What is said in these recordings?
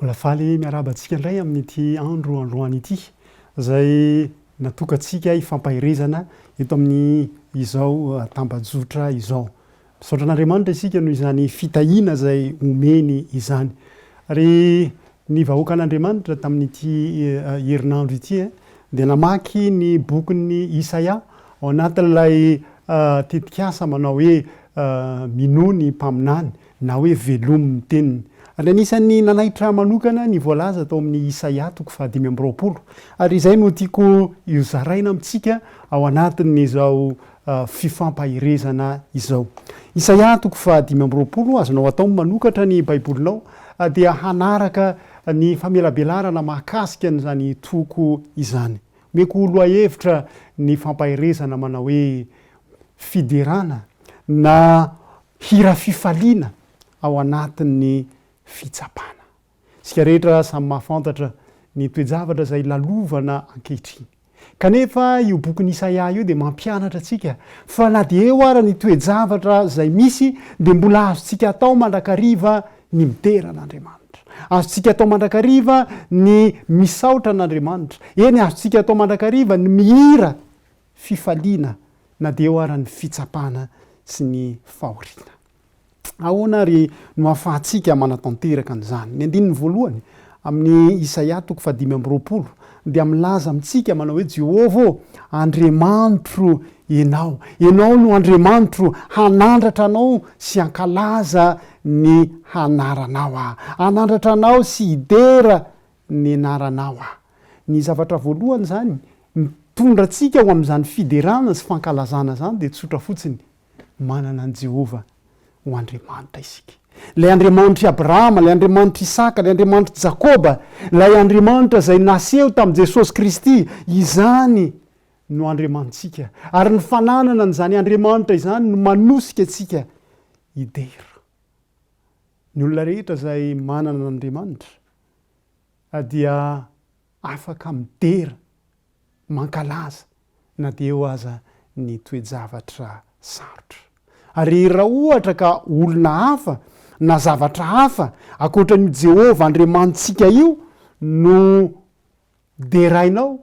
Mbola faly miarahaba antsika indray amin'ity andro androany ity izay natokantsika hifampaherezana eto amin'izao tambajotra izao. Misaotra an'Andriamanitra isika noho izany fitahiana izay omeny izany. Ary ny vahoakan'Andriamanitra tamin'ity herinandro ity dia namaky ny bokin'ny Isaia ao anatin'ilay tetikasa manao hoe Minoa ny Mpaminany na hoe Velomy ny Teniny. Ary anisan'ny nanaitra ahy manokana ny voalaza tao amin'ny Isaia toko fahadimy amby roapolo. Ary izay no tiako hozaraina amintsika ao anatin'izao fifampaherezana izao. Isaia toko faha dimy amby roapolo, Azonao atao ny manokatra ny Baibolinao dia hanaraka ny famelabelarana mahakasika an'izany toko izany. Omeko lohahevitra ny fampaherezana manao hoe fiderana na hira fifaliana ao anatin'ny fitsapana. Isika rehetra samy mahafantatra ny toe-javatra izay lalovana ankehitriny. Kanefa io bokin'i Isaia io dia mampianatra antsika fa na dia eo ara ny toe-javatra izay misy dia mbola azontsika atao mandrakariva ny midera an'Andriamanitra. Azontsika atao mandrakariva ny misaotra an'Andriamanitra. Eny, azontsika atao mandrakariva ny mihira fifaliana na dia eo ara ny fitsapana sy ny fahoriana. Ahoana àry no ahafahantsika manatanteraka an'izany? Ny andininy voalohany amin'ny Isaia toko fahadimy amby roapolo dia milaza amintsika manao hoe, Jehovah ô, Andriamanitro ianao. Ianao no Andriamanitro, hanandratra anao sy hankalaza ny anaranao aho. Hanandratra anao sy hidera ny anaranao aho. Ny zavatra voalohany izany mitondra antsika ho amin'izany fiderana sy fankalazana izany dia tsotra fotsiny, manana an'i Jehovah ho Andriamanitra isika. Ilay Andriamanitr'i Abrahama, ilay Andriamanitr'i Isaka, ilay Andriamanitr'i Jakoba, ilay Andriamanitra izay naseho tamin'i Jesosy Kristy, izany no Andriamanitsika. Ary ny fananana an'izany Andriamanitra izany no manosika antsika hidera. Ny olona rehetra izay manana an'Andriamanitra dia afaka midera, mankalaza, na dia eo aza ny toe-javatra sarotra. Ary raha ohatra ka olona hafa na zavatra hafa ankoatra an'io Jehovah Andriamanitsika io no derainao,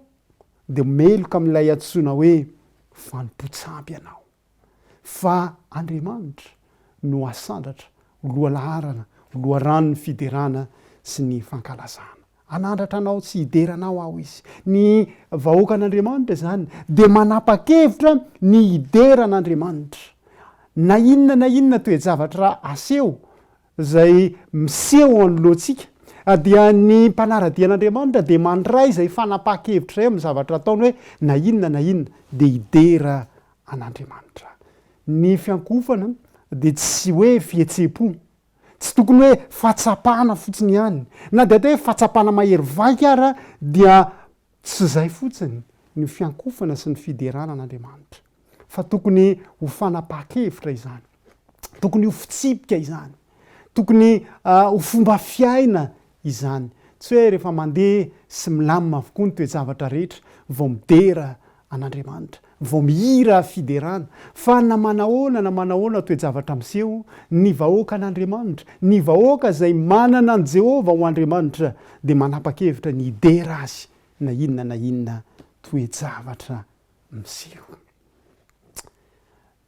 dia meloka amin'ilay antsoina hoe fanompoan-tsampy ianao. fa Andriamanitra no asandratra ho lohalaharana, ho loharanon'ny fiderana sy ny fankalazana. Hanandratra anao sy hidera anao aho izy. Ny vahoakan'Andriamanitra izany dia manapa-kevitra ny hidera an'Andriamanitra. Na inona na inona toe-javatra aseho izay miseho anoloantsika, dia ny mpanara-dia an'Andriamanitra dia mandray izay fanapahan-kevitra izay amin'ny zavatra ataony hoe na inona na inona dia hidera an'Andriamanitra. Ny fiankohofana dia tsy hoe fihetseham-po, tsy tokony hoe fahatsapana fotsiny ihany, na dia atao hoe fahatsapana mahery vaika ara dia Tsy izay fotsiny ny fiankofana sy ny fiderana an'Andriamanitra, fa tokony ho fanapahan-kevitra izany, tokony ho fitsipika izany, tokony ho fomba fiaina izany. Tsy hoe rehefa mandeha sy milamina avokoa ny toe-javatra rehetra vao midera an'Andriamanitra. vao mihira fiderana, fa na manahoana na manahoana toe-javatra miseho, ny vahoakan'Andriamanitra, ny vahoaka izay manana an'i Jehovah ho Andriamanitra, dia manapa-kevitra ny hidera azy na inona na inona toe-javatra miseho.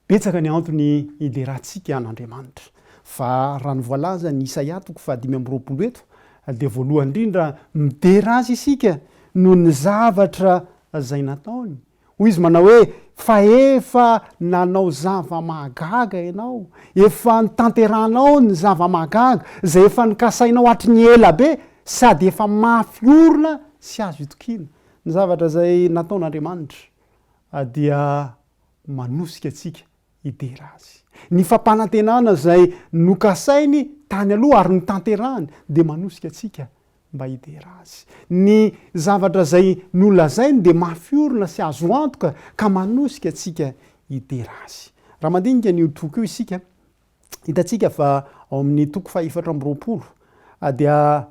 Betsaka ny antony hiderantsika an'Andriamanitra, fa raha ny voalazan'i Isaia toko fahadimy amby roapolo eto, dia voalohany indrindra midera Azy isika noho ny zavatra izay nataony. Hoy Izy manao hoe, Fa efa nanao zava-mahagaga ianao, efa notanterahanao ny zava-mahagaga izay efa nikasainao hatry ny ela be, sady efa mafy orina sy azo itokiana. Ny zavatra izay nataon'Andriamanitra dia manosika antsika hidera azy. Ny fampanantenana izay nokasainy tany aloha ary notanterahiny dia manosika antsika mba hidera azy. Ny zavatra izay nolazainy dia mafy orina sy azo antoka ka manosika antsika hidera azy. Raha mandinika an'io toko io isika, hitantsika fa ao amin'ny toko fahefatra amby roapolo dia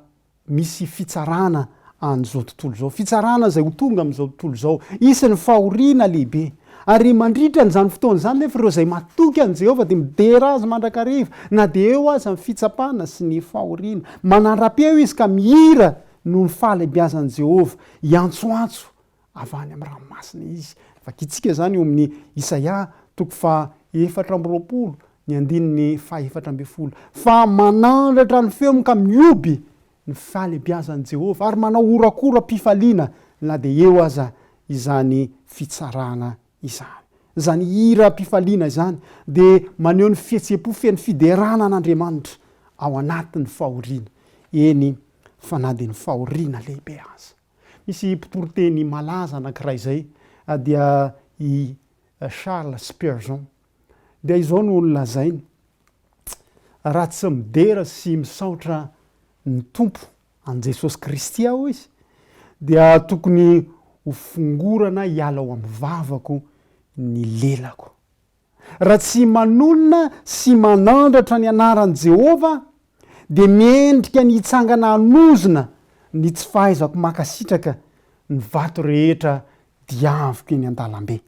misy fitsarana an'izao tontolo izao, fitsarana izay ho tonga amin'izao tontolo izao, hisy ny fahoriana lehibe. Ary mandritra an'izany fotoana izany anefa, ireo izay matoky an'i Jehovah dia midera azy mandrakariva, na dia eo aza ny fitsapana sy ny fahoriana. Manara-peo izy ka mihira noho ny fahalehibiazan'i Jehovah, hiantsoantso avy any amin'ny ranomasina izy. Vakintsika izany eo amin'ny Isaia toko faha efatra amby roapolo ny andininy faha efatra ambin'ny folo, Fa manandratra ny feony ka mihoby ny fahalebiazan'i Jehovah, ary manao horakoram-pifaliana na dia eo aza izany fitsarana izany. Izany hiram-pifaliana izany dia maneho ny fihetseham-po feno fiderana an'Andriamanitra ao anatin'ny fahoriana, eny fa na dia ny fahoriana lehibe aza. Misy mpitoriteny malaza anankiray izay dia i Charles Spurgeon. Dia izao no nolazainy, Raha tsy midera sy misaotra ny Tompo an'i Jesosy Kristy aho izy, dia tokony hofongorana hiala ao amin'ny vavako ny lelako. Raha tsy manolana sy manandratra ny anaran'i Jehovah, dia mendrika ny hitsangana hanozona ny tsy fahaizako mankasitraka ny vato rehetra diaviko eny an-dalambe.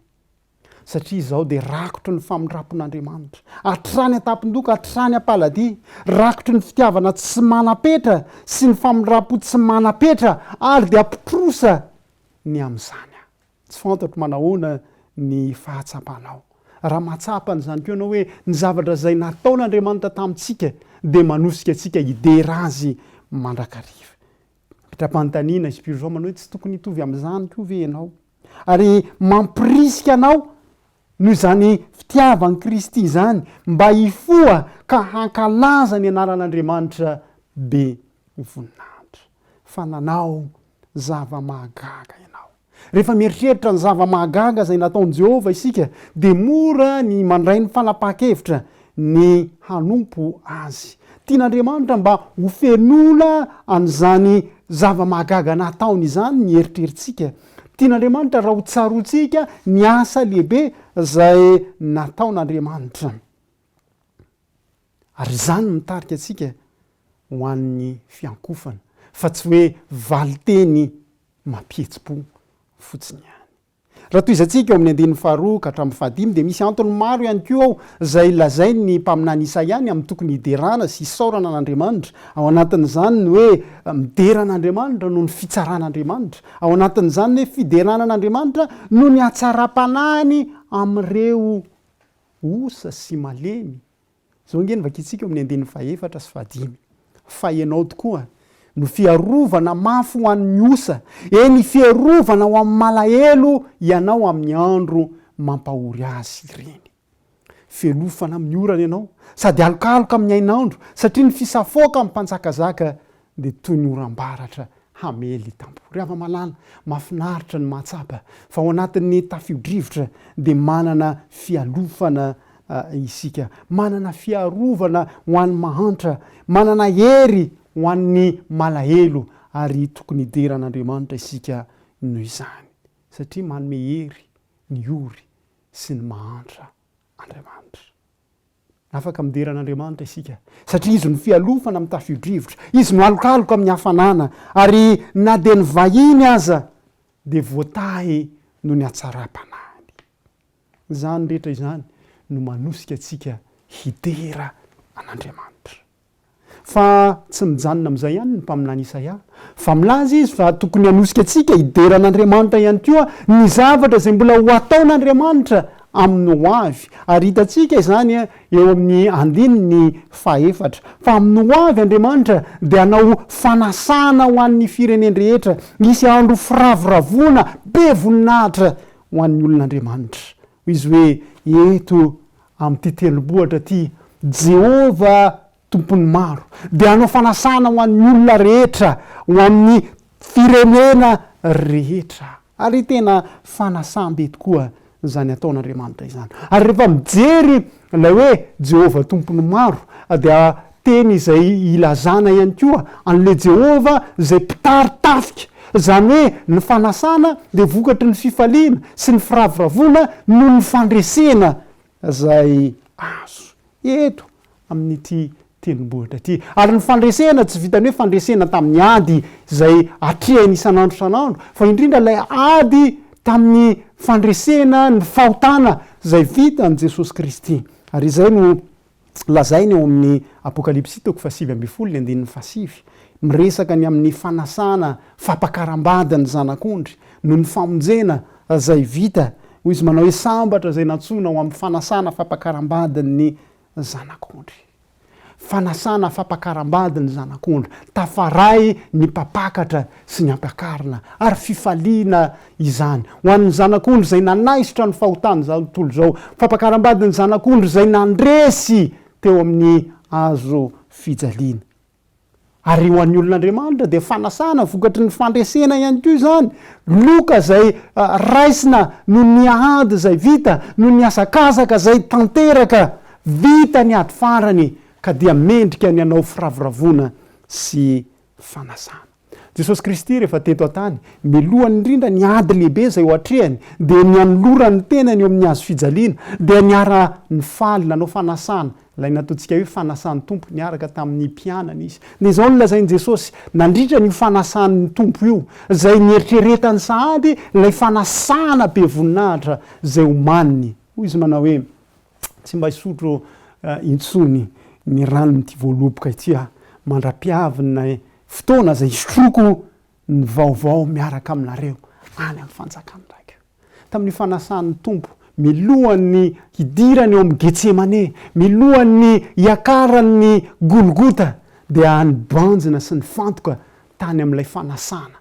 Satria izaho dia rakotry ny famindram-pon'Andriamanitra, hatrany an-tampon-doha ka hatrany am-paladia, rakotry ny fitiavana tsy manam-petra sy ny famindram-po tsy manam-petra, ary dia mpitrosa ny amin'izany aho. Tsy fantatro manahoana ny fahatsapanao. Raha mahatsapa an'izany koa ianao hoe ny zavatra izay nataon'Andriamanitra tamintsika dia manosika antsika hidera Azy mandrakariva. Mitra-panontaniana i Spurgeon manao hoe, Tsy tokony hitovy amin'izany koa ve ianao? Ary mampirisika anao noho izany fitiavan'i Kristy izany mba hifoha ka hankalaza ny anaran'Andriamanitra be voninahitra. Fa nanao zava-mahagaga ianao. Rehefa mieritreritra ny zava-mahagaga izay nataon'i Jehovah isika, dia mora ny mandray ny fanapahan-kevitra ny hanompo azy. Tian'Andriamanitra mba hofenoina an'izany zava-mahagaga nataony izany ny eritreritsika. Tian'Andriamanitra raha hotsaroantsika ny asa lehibe izay nataon'Andriamanitra. Ary izany mitarika antsika ho an'ny fiankofana, fa tsy hoe valin-teny mampihetsi-po fotsiny ihany. Raha tohizantsika ao amin'ny andininy faharoa ka hatramin'ny fahadimy, dia misy antony maro ihany koa ao izay lazain'ny mpaminany Isaia ny amin'ny tokony hiderana sy hisaorana an'Andriamanitra. Ao anatin'izany ny hoe midera an'Andriamanitra noho ny fitsaran'Andriamanitra. Ao anatin'izany ny hoe fiderana an'Andriamanitra noho ny hatsaram-panahiny amin'ireo Osa sy malemy. Izao ange ny vakintsika eo amin'ny andininy fahefatra sy fahadimy. Fa ianao tokoa no fiarovana mafy ho an'ny osa, eny, fiarovana ho amin'ny malahelo ianao amin'ny andro mampahory azy ireny. Felofana amin'ny orana ianao, sady alokaloka amin'ny hainandro, satria ny fisafoakan'ny mpanjakazaka dia toy ny oram-baratra hamely tampoka. Ry hava-malala, mahafinaritra ny mahatsapa fa ao anatin'ny tafio-drivotra dia manana fialofana isika, manana fiarovana ho an'ny mahantra, manana hery ho an'ny malahelo, ary tokony hidera an'Andriamanitra isika noho izany, satria manome hery ny ory sy ny mahantra Andriamanitra. Afaka midera an'Andriamanitra isika, satria Izy no fialofana amin'ny tafio-drivotra, Izy no alokaloka amin'ny hafanana, ary na dia ny vahiny aza dia voatahy noho ny hatsaram-panahiny. Izany rehetra izany no manosika antsika hidera an'Andriamanitra. Fa tsy mijanona amin'izay ihany ny mpaminany Isaia, fa milaza izy fa tokony hanosika antsika hidera an'Andriamanitra ihany koa ny zavatra izay mbola ho ataon'Andriamanitra amin'ny ho avy. Ary hitantsika izany eo amin'ny andininy fahefatra, fa amin'ny ho avy Andriamanitra dia hanao fanasana ho an'ny firenen-drehetra, hisy andro firavoravoana be voninahitra ho an'ny olon'Andriamanitra. Hoy izy hoe, Eto amin'ity tendrombohitra ity, Jehovah Tompon'ny maro dia hanao fanasana ho an'ny olona rehetra, ho amin'ny firenena rehetra. Ary tena fanasam-be tokoa izany ataon'Andriamanitra izany. Ary rehefa mijery Ilay hoe Jehovah Tompon'ny maro dia teny izay ilazana ihany koa an'ilay Jehovah izay mpitari-tafika, izany hoe ny fanasana dia vokatry ny fifaliana sy ny firavoravoana noho ny fandresena izay azo eto amin'ity tendrombohitra ity. Ary ny fandresena tsy vitan'ny hoe fandresena tamin'ny ady izay atrehiny isan'andro isan'andro, fa indrindra ilay ady tamin'ny fandresena ny fahotana izay vitan'i Jesosy Kristy. Ary izay no lazainy ao amin'ny Apokalypsy toko fahasivy ambin'ny folo ny andininy fahasivy. Miresaka ny amin'ny fanasana, fampakaram-bady ny Zanak'ondry, noho ny famonjena izay vita. Hoy izy manao hoe, Sambatra izay nantsoina ho amin'ny fanasana, fampakaram-badin'ny ny zanak'ondry. Fanasana fampakaram-bady ny zanak'ondry, tafaray ny mpampakatra sy ny ampakarina, ary fifaliana izany ho an'ny zanak'ondry izay nanaisotra ny fahotan'izao tontolo izao, fampakaram-bady ny zanak'ondry izay nandresy teo amin'ny hazo fijaliana. Ary ho an'ny olon'Andriamanitra dia fanasana vokatry ny fandresena ihany koa izany. Loka izay raisina noho ny ady izay vita, noho ny hazakazaka izay tanteraka. Vita ny ady farany ka dia mendrika ny hanao firavoravoana sy fanasana. Jesosy Kristy rehefa teto an-tany, mialoha indrindra ny ady lehibe izay ho atrehiny, dia nianolora ny tenany eo amin'ny hazo fijaliana, dia niara-nifaly, nanao fanasana, ilay nataontsika hoe fanasan'ny Tompo, niaraka tamin'ny mpianany izy. Dia izao no lazain'i Jesosy, nandritra an'io fanasan'ny Tompo io, izay nieritreretany sahady ilay fanasana be voninahitra izay omaniny. Hoy izy manao hoe, Tsy mba hisotro intsony ny ranon'ity voaloboka ity aho, mandra-piavin'ny Fotoana izay hisotroako ny vaovao miaraka aminareo any amin'ny fanjakan'ny Raiko. Tamin'io fanasan'ny Tompo, milohan'ny hidirany ao amin'ny Getsemane, milohan'ny hiakarany ny Golgota, dia nibanjina sy nifantoka tany amin'ilay fanasana.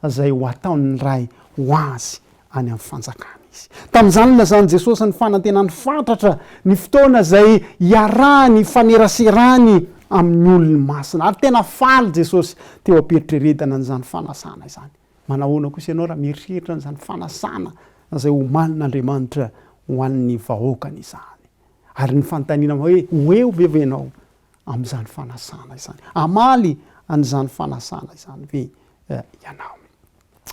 izay ho ataon'ny Ray ho azy any amin'ny fanjakana izy. Tamin'izany nilazan'i Jesosy ny fanantenany fatratra ny fotoana izay hiarahany hifaneraserany amin'ny olony masina. Ary tena faly Jesosy teo am-pieritreretana an'izany fanasana izany. Manahoana kosa ianao raha mieritreritra an'izany fanasana izay homanin'Andriamanitra ho an'ny vahoakany izany? Ary ny fanontaniana hoe ho eo ve ianao? amin'izany fanasana izany? Hamaly an'izany fanasana izany ve ianao?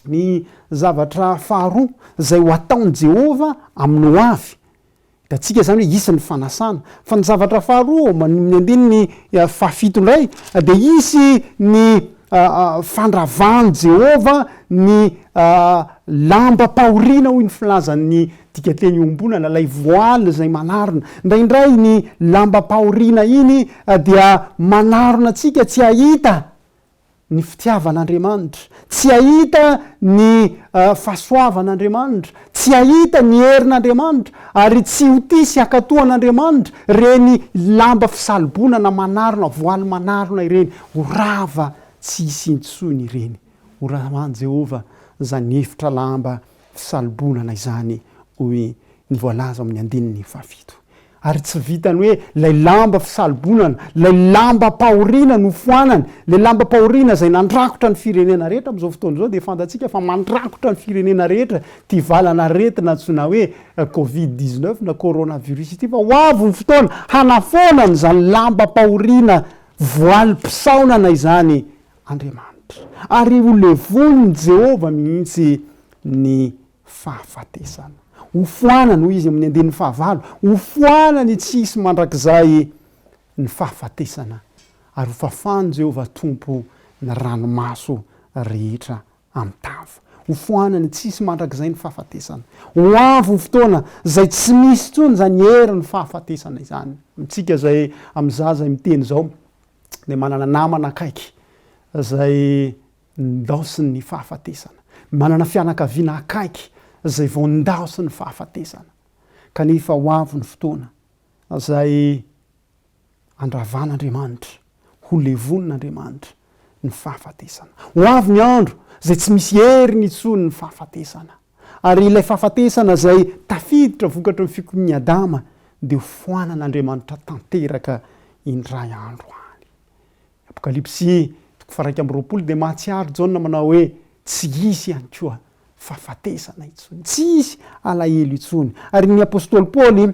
Ny zavatra faharoa izay ho ataon'i Jehovah amin'ny hoavy, hitantsika izany hoe hisy ny fanasana. Fa ny zavatra faharoa, amin'ny andininy fahafito indray, dia hisy ny fandravan'i Jehovah ny lambam-pahoriana, hoy ny filazan'ny Dikateny iombonana, ilay voile izay manarona. Indraindray iny lambam-pahoriana iny dia manarona antsika tsy hahita ny fitiavan'Andriamanitra, tsy hahita ny fahasoavan'Andriamanitra, tsy hahita ny herin'Andriamanitra, ary tsy ho tia sy hankatò an'Andriamanitra ireny lamba fisalobonana manarona, voile manarona ireny. Ho rava tsy hisy intsony ireny. Ho rava an'i Jehovah izany efitra lamba Tsy salobonana izany, hoy ny voalaza ao amin'ny andininy fahafito. Ary tsy vitan'ny hoe ilay lamba fisalobonana, ilay lambam-pahoriana nofoanany, ilay lambam-pahoriana izay nandrakotra ny firenena rehetra amin'izao fotoana izao dia fantatsika fa mandrakotra ny firenena rehetra ity valan'aretina antsoina hoe covid dix-neuf na coronavirus ity fa ho avy ny fotoana hanafoana an'izany lambam-pahoriana voalim-pisaonana izany Andriamanitra, ary holevonin'i Jehovah mihitsy ny fahafatesana. Hofoanany, hoy izy amin'ny andininy fahavalo, hofoanany tsy hisy mandrakizay ny fahafatesana, ary hofafan'i Jehovah Tompo ny ranomaso rehetra amin'ny tavy. Hofoanany tsy hisy mandrakizay ny fahafatesana. Ho avy ny fotoana izay tsy misy intsony izany herin'ny fahafatesana izany. Amintsika izay amin'ny zaza izay miteny izao, dia manana namana akaiky izay ndaosin'ny fahafatesana, manana fianakaviana akaiky izay vao ndaosin'ny fahafatesana, kanefa ho avy ny fotoana izay andravan'Andriamanitra, holevonin'Andriamanitra ny fahafatesana. Ho avy ny andro izay tsy misy heriny intsony ny fahafatesana. Ary ilay fahafatesana izay tafiditra vokatry ny fikomian'i Adama dia ho foanan'Andriamanitra tanteraka indray andro any. Ny Apokalypsy, toko faha-iraika amby roapolo, dia mahatsiaro Jaona manao hoe, Tsy hisy ihany koa fahafatesana intsony. Tsy hisy alahelo intsony. Ary ny apostoly Paoly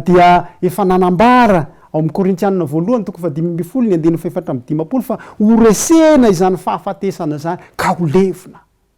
dia efa nanambara ao amin'ny Korintianina voalohany, toko fahadimy ambin'ny folo, ny andininy fahefatra amby dimampolo, fa horesena izany fahafatesana izany, ka ho levona.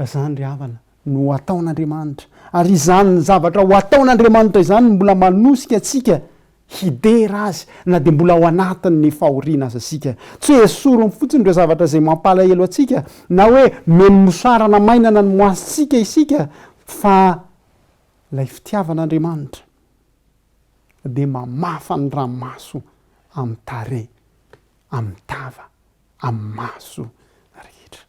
Izany ry havana no ho ataon'Andriamanitra. Ary izany zavatra ho ataon'Andriamanitra izany no mbola manosika antsika hidera Azy na dia mbola ao anatin'ny fahoriana aza isika. Tsy hoe esoriny fotsiny ireo zavatra izay mampalahelo antsika na hoe omeny mosarana mainana ny moasontsika isika fa ilay fitiavan'Andriamanitra dia mamafa ny ramaso amin'ny tarehy, amin'ny tava, amin'ny maso rehetra.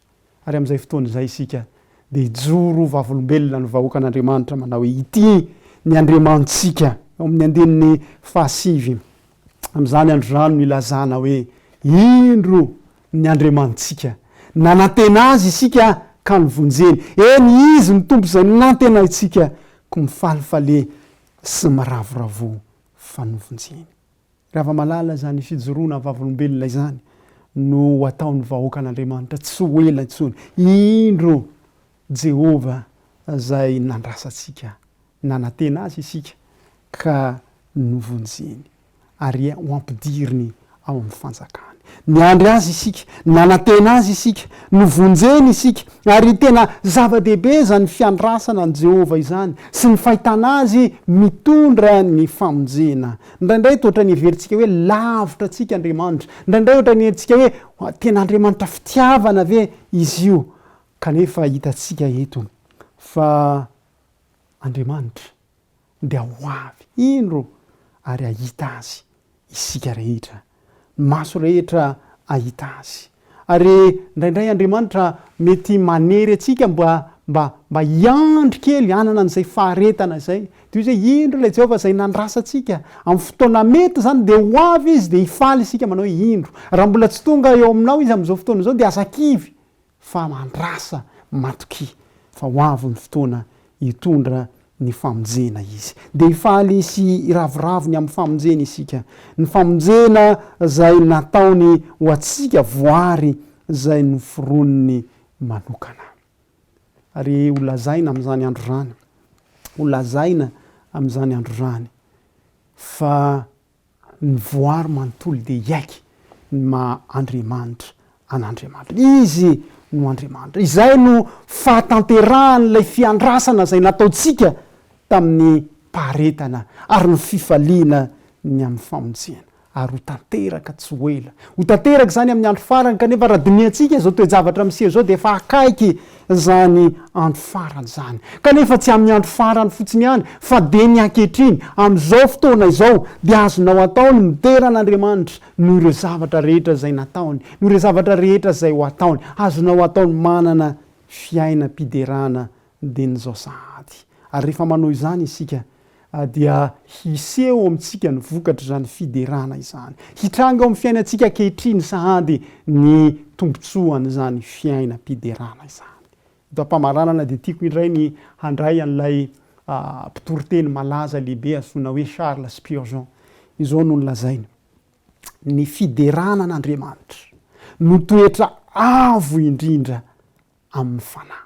Ary amin'izay fotoana izay isika dia hijoro ho vavolombelona ny vahoakan'Andriamanitra manao hoe, Ity ny Andriamanitsika, ao amin'ny andininy fahasivy. Amin'izany andro izany no hilazana hoe, Indro ny Andriamanitsika! Nanantena Azy isika ka nivonjeny. Eny, Izy ny Tompo izay nanantenaintsika, koa mifalifale sy miravoravoa fa novonjeny. Ravamalala izany fijoroana vavolombelona izany no ho ataon'ny vahoakan'Andriamanitra tsy ho ela intsony. Indro Jehovah izay nandrasa antsika, nanantena azy isika ka novonjeny, ary ho ampidiriny ao amin'ny fanjakany. Niandry azy isika, nanantena azy isika, novonjeny isika, ary tena zava-dehibe izany fiandrasana an'i Jehovah izany sy ny fahitana azy mitondra ny famonjena. Indraindray dia ohatran'ny heverintsika hoe lavitra antsika Andriamanitra. Indraindray ohatran'ny herintsika hoe tena Andriamanitra fitiavana ve Izy io? Kanefa hitantsika eto fa Andriamanitra dia ho avy indro ary hahita Azy isika rehetra. ny maso rehetra hahita azy. Ary indraindray Andriamanitra mety manery antsika mba mba mba hiandry kely hanana an'izay faharetana izay. Toy izay, indro ilay Jehovah izay nandrasa antsika. Amin'ny fotoana mety izany dia ho avy izy dia hifaly isika manao hoe, Indro. Raha mbola tsy tonga eo aminao izy amin'izao fotoana izao dia aza kivy. fa mandrasa matokia fa ho avy ny fotoana hitondra ny famonjena Izy. Dia hifaly sy hiravoravo ny amin'ny famonjena isika, ny famonjena izay nataony ho antsika voary izay noforoniny manokana. Ary ho lazaina amin'izany andro izany, ho lazaina amin'izany andro izany fa. Ny voary manontolo dia hiaiky ny maha Andriamanitra an'Andriamanitra. Izy no Andriamanitra. Izay no fahatanterahan'ilay fiandrasana izay nataontsika tamin'ny paharetana ary ny fifaliana ny amin'ny famonjena. Ary ho tanteraka tsy ho ela. Ho tanteraka izany amin'ny andro farany kanefa raha dinihantsika izao toe-javatra miseho izao dia efa akaiky izany andro farany izany, kanefa tsy amin'ny andro farany fotsiny ihany, fa dia ny ankehitriny, amin'izao fotoana izao, dia azonao atao ny midera an'Andriamanitra noho ireo zavatra rehetra izay nataony, noho ireo zavatra rehetra izay ho ataony. Azonao atao ny manana fiainam-piderana dieny izao sahady. Ary rehefa manao izany isika, dia hiseho ao amintsika ny vokatr'izany fiderana izany. Hitranga ao amin'ny fiainantsika ankehitriny sahady ny tombontsoan'izany fiainam-piderana izany. Eto am-pamaranana dia tiako indray ny handray an'ilay mpitoriteny malaza lehibe antsoina hoe Charles Spurgeon. Izao no nolazainy, Ny fiderana an'Andriamanitra no toetra avo indrindra amin'ny fanahy.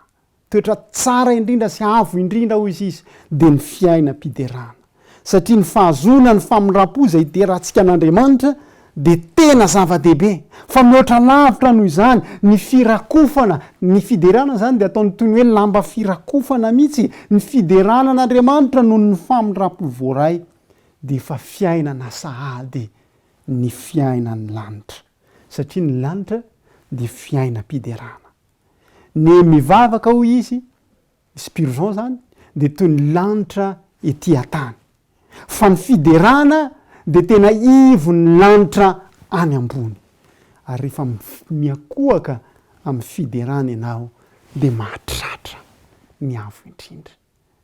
Toetra tsara indrindra sy avo indrindra, hoy izy, dia ny fiainam-piderana. Satria ny fahazoana ny famindram-po izay iderantsika an'Andriamanitra dia tena zava-dehibe. Fa mihoatra lavitra noho izany ny firakofana. Ny fiderana izany dia ataony toy ny hoe lamba firakofana mihitsy. Ny fiderana an'Andriamanitra noho ny famindram-po voaray dia efa fiainana sahady ny fiainan'ny lanitra. Satria ny lanitra dia fiainam-piderana. Ny mivavaka hoy izy, Spurgeon zany, dia toy ny lanitra ety an-tany. Fa ny fiderana dia tena ivon'ny lanitra any ambony. Ary rehefa miakohaka amin'ny fiderana ianao dia mahatratra ny Avo Indrindra.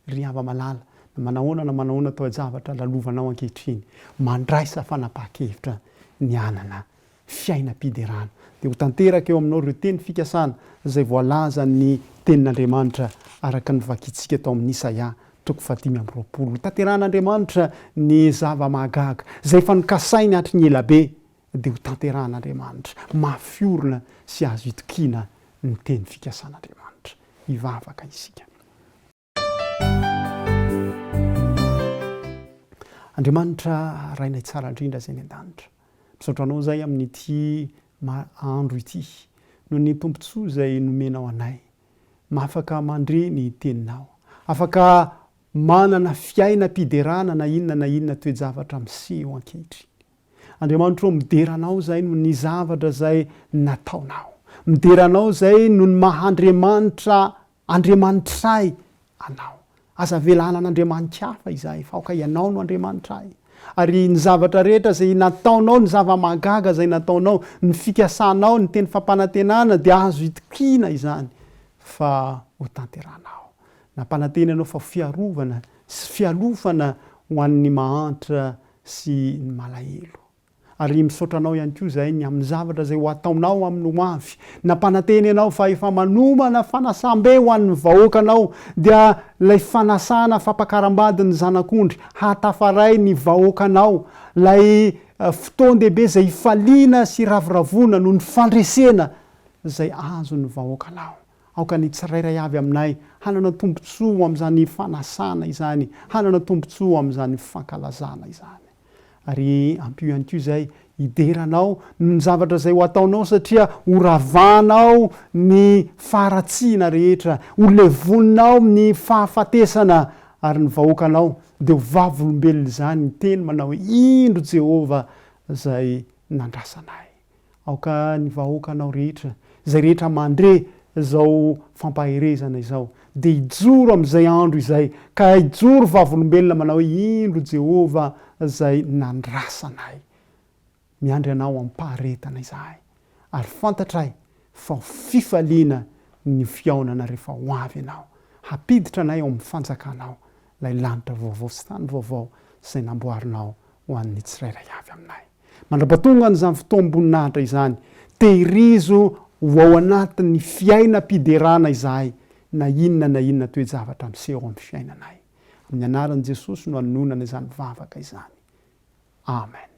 Ry hava malala, na manahoana na manahoana toe-javatra lalovanao ankehitriny, mandraisa fanapahan-kevitra ny hanana fiainam-piderana, dia ho tanteraka eo aminao ireo teny fikasana izay voalazan'ny Tenin'Andriamanitra araka ny vakintsika tao amin'ny Isaia toko fahadimy amby roapolo. Hotanterahan'Andriamanitra ny zava-mahagaga izay efa nokasainy hatry ny ela be dia ho tanterahan'Andriamanitra, mafy orina sy azo itokiana ny teny fikasan'Andriamanitra. Hivavaka isika. Andriamanitra Rainay tsara indrindra izay any an-danitra, misaotra Anao Izahay amin'ity andro ity, noho ny tombontsoa izay nomenao anay, afaka mandre ny Teninao, afaka manana fiainam-piderana na inona na inona toe-javatra miseho ankehitriny. Andriamanitro ô midera anao zay noho ny zavatra zay nataonao. Midera anao zay noho ny maha Andriamanitra Andriamanitray anao. Aza avela hanan Andriamanikahafa izahay fa aoka ianao no Andriamanitray. Ary ny zavatra rehetra zay nataonao, ny zava mahagaga zay nataonao, ny fikasanao, ny teny fampanantenana dia azo itokiana izany fa ho tanterahanao. Nampanantena anao fa ho fiarovana sy fialofana ho an'ny mahantra sy ny malahelo. Ary misaotra Anao ihany koa izahay ny amin'ny zavatra izay ho ataonao amin'ny ho avy. Nampanantena Ianao fa efa manomana fanasam-be ho an'ny vahoakanao, dia ilay fanasana fampakaram-badin'ny Zanak'ondry hahatafaray ny vahoakanao, ilay fotoan-dehibe izay hifaliana sy hiravoravoana noho ny fandresena izay azon'ny vahoakanao. Aoka ny tsirairay avy aminay hanana tombontsoa ho amin'izany fanasana izany, hanana tombontsoa ho amin'izany fankalazana izany. Ary ampio ihany koa izay hidera Anao noho ny zavatra izay ho ataonao, satria horavanao ny faharatsiana rehetra, holevoninao ny fahafatesana, ary ny vahoakanao dia ho vavolombelon'izany, hiteny manao hoe, Indro Jehovah izay nandrasanay. Aoka ny vahoakanao rehetra, izay rehetra mandre izao fampaherezana izao, dia hijoro amin'izay andro izay, ka hijoro vavolombelona manao hoe, Indro Jehovah izay nandrasa anay. Miandry anao am-paharetana izahay, ary fantatray fa ho fifaliana ny fihaonana rehefa ho avy ianao, hampiditra anay ao amin'ny fanjakanao, ilay lanitra vaovao sy tany vaovao izay namboarinao ho an'ny tsirairay avy aminay. Mandrapatongan' izany fotoam-boninahitra izany, tehirizo ho ao anatin' ny fiainam-piderana izahay, na inona na inona toe-javatra miseho ao amin' ny fiainanay. Amin' ny anaran' i Jesosy no anononana izany vavaka izany. Amena.